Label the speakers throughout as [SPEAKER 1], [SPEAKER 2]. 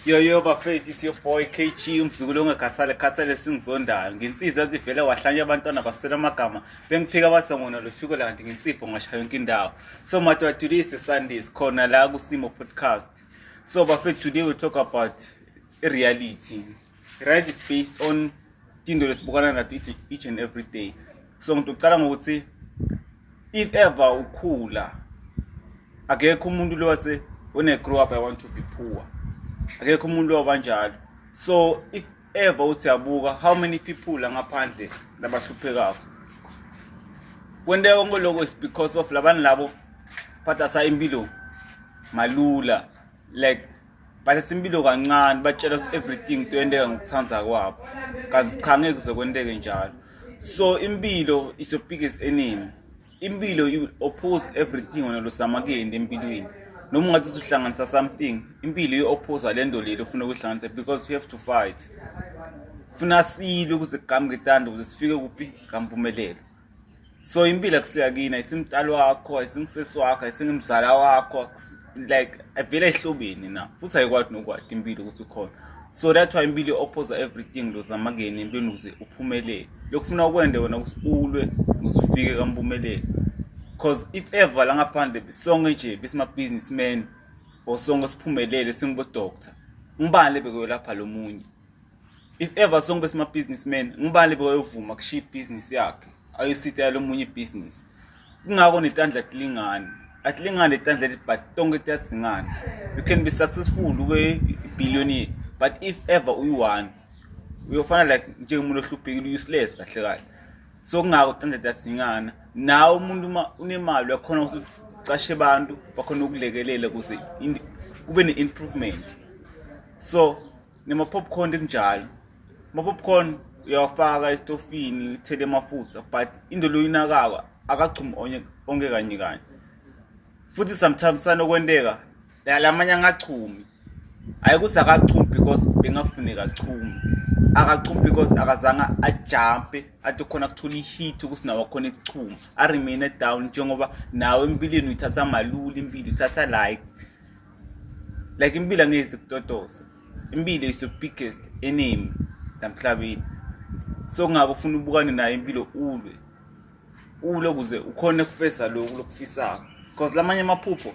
[SPEAKER 1] Yo yo bafethu is your boy KG umzukulu ongakhathale khathale singizondayo nginsizwa ezivele wahlanya abantwana baswela amagama bengiphika bathi ngona lufiko lanti ngensipho ngashaya yonke indawo so matwatulise Sundays khona la kusimo podcast so bafethu today we talk about reality Right is based on into lesibukana nathi each, each and every day. So ngithi ucala ngokuthi if ever ukhula akekho umuntu lo wathi when I grow up I want to be poor. Akekho umuntu lo kanjalo. So if ever uthi yabuka how many people la ngaphandle labahluphekayo. Kwenteka konke lokho is because of labani labo phathasa impilo malula like but simpilo kancane batshela us everything toyenteka ngokuthanda kwabo kazi cha ngeke kuzokwenteke njalo so impilo is your biggest enemy impilo you oppose everything wena losamakuyenda empilweni noma ungathi usuhlanganisa something impilo i-opposa le nto leli ofuna ukuyihlanganisa because we have to fight funa silwe ukuze kugamuke itanda ukuze sifike kuphi kampumelelo so impilo ekusuka kina isimdali wakho isingisisi wakho isingimzala wakho like avele ehlobeni na futhi ayikwadi nokwadi impilo ukuthi ukhona so that's why impilo i-opposa everything lozama kuyena empilweni ukuze uphumelele lokufuna ukwende wena ukuthi ulwe ukuze ufike kampumelelo because if ever la ngaphandle sonke nje besima-businessman or sonke siphumelele singibodoctor ngibani lebekuyolapha lo munye if ever sonke besima businessman ngubani boyovuma kushiya business yakhe ayosita lomunye business kungako netandla tilingani atilingani letandla leti but tonke tiyadzingana you can be successful ube billionaire but if ever uyi-one uyofana like njengomuntu ohluphekile useless kahle kahle so kungako tandla tiyadzingana nawe umuntu uma unemali uyakhona ukuthi ucashe abantu bakhona ukulekelela kuze kube ne-improvement so nema-popcorn ekunjalo ama-popcorn uyawafaka esitofini uthele amafutha but into leyo inakako akachumi onke kanye kanye futhi sometimes sanokwenteka lamanye angachumi hhayi ukuthi akachumi because bengafuneka achumi akachumi because akazange ajampe athi khona kuthola ihit ukuthi nawo akhona ekuchuma aremaine down njengoba nawe empilweni uyithatha malula impilo uyithatha like like impilo angeke sikutotose impilo is the biggest enemy namhlabeni so kungako ufuna ubukane nayo impilo ulwe ulwe ukuze ukhone kufeza lokhu lokufisayo because lamanye amaphupho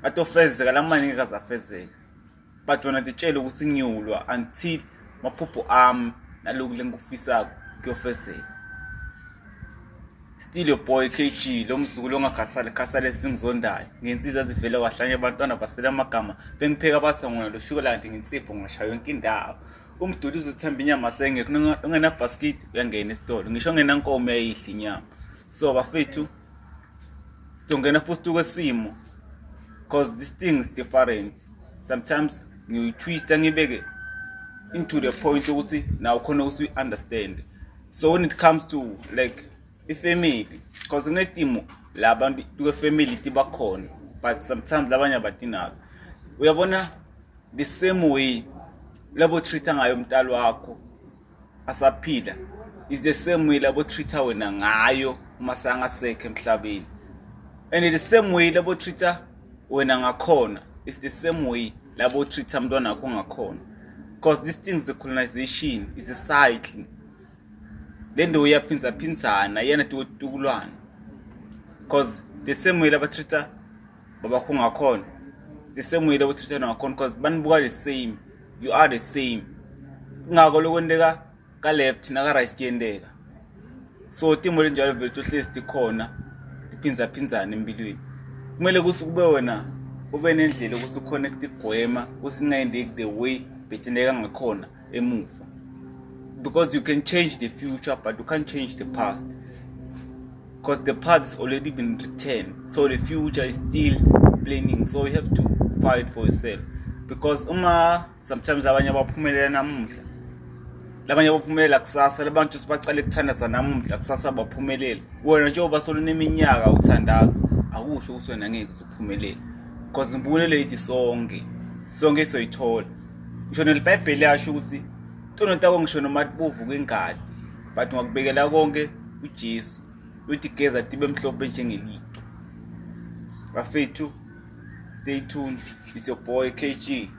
[SPEAKER 1] atofezeka lamanye ngeke azafezeka but wena titshele ukuthi ngiyolwa until maphupho ami naloku lengikufisako kuyofezeka still your boy KG lo mzukulu ongakhathali khathali esingizondayo ngensizwa ezivele wahlanye abantwana basela amagama bengipheka basongona lo shukolandi ngensipho ngashaya yonke indawo umduli uzothemba inyama sengekho ungenabhaskidi uyangena esitolo ngisho ungenankomo uyayidla inyama so bafethu tongena futhi kwesimo because this thing is different sometimes ngiyitwista ngibeke into the point ukuthi naw khona ukuthi uyi-understande so when it comes to like ifamily because kunetimo la bantu kwefamily tibakhona but sometimes labanye abadinako uyabona the same way labo treat ngayo umntalo wakho asaphila is the same way labo treat wena ngayo uma sangasekho emhlabeni and the same way labo treat wena ngakhona is the same way labo treater mntwana wakho ngakhona because this thing the colonization is a cycle le nto uyaphindzaphindana yena tiwotitukulwana because the same way labatreater babakho ngakhona the same way labatreater ngakhona because banibuka the same you are the same kungako lokwenteka ka left na ka right kuyendeka so timo linjalo vele tohlezi tikhona tiphindzaphindane empilweni kumele ukuthi kube wena ube nendlela ukuthi ukhona kutigwema ukuthi kungayendeki the way bethineka ngakhona emuva because you can change the future but you can't change the past because the past has already been written so the future is still planning so you have to fight for yourself because uma sometimes abanye abaphumelela namuhla labanye abaphumelela kusasa labantu sibacale kuthandaza namuhla kusasa baphumelela wena njengoba soluneminyaka uthandaza akusho ukuthi wena ngeke uzophumelela because impumelelo yithi sonke sonke soyithola ngisho nelibhayibheli yasho ukuthi tono tako ngisho noma tibovu kwengadi but ngakubekela konke uJesu uthi geza tibe mhlophe njengeliqo bafethu stay tuned it's your boy KG